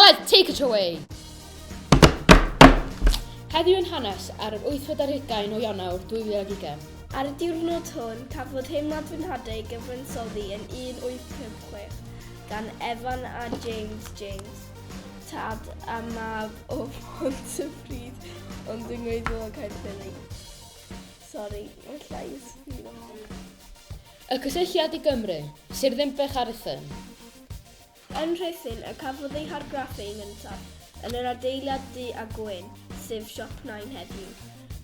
Aled, take it away! Heddiw yn hanes ar yr 8 ar hugain o Ionawr 2020. Ar y diwrnod hwn, cafodd Heimlad fy Nhadau gyfansoddi yn 1856 gan Evan a James James, tad a mab o Phontypridd ond yng Ngweiddiol Caerffili. Sori, mae llais fi Y cysylltiad i Gymru, Sir Ddinbych a Rhuthun. Yn Rhuthun y cafodd ei hargraffu yn gyntaf, yn yr adeilad du a gwyn, sef Siop Nain heddiw.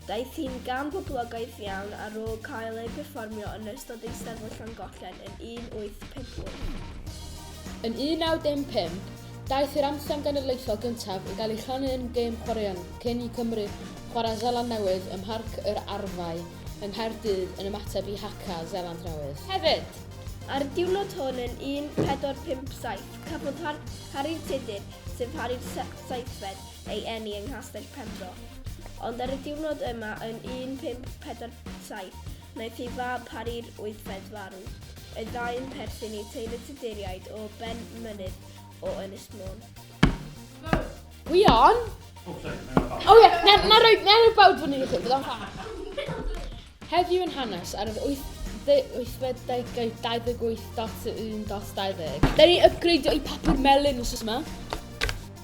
Daeth hi'n gam poblogaidd iawn ar ôl cael ei berfformio yn ystod Eisteddfod Llangollen yn 1858. Yn 1915, daeth yr anthem genedlaethol gyntaf i gael ei chanu yn gêm chwaraeon cyn i Cymru chwarae Seland Newydd ym Mharc yr Arfau yng Nghaerdydd yn ymateb i Haka Seland Newydd. Hefyd, Ar diwrnod hwn yn 1457 cafodd Harri'r Tudur, sef Harri'r Seithfed, ei eni yng Nghastell Penfro. Ond ar y diwrnod yma yn 1547 wnaeth ei fab Harri'r Wythfed farw. Y ddau'n perthyn i teulu Tuduriaid o Ben Mynydd o Ynys Môn. Gwion? O, ie, na roi bawd fyny i chi, byddai'n ffa. Heddiw yn Hanes ar yr wythfed degau 28.1.20. Da ni'n ypgreidio'i papur melyn wsos yma.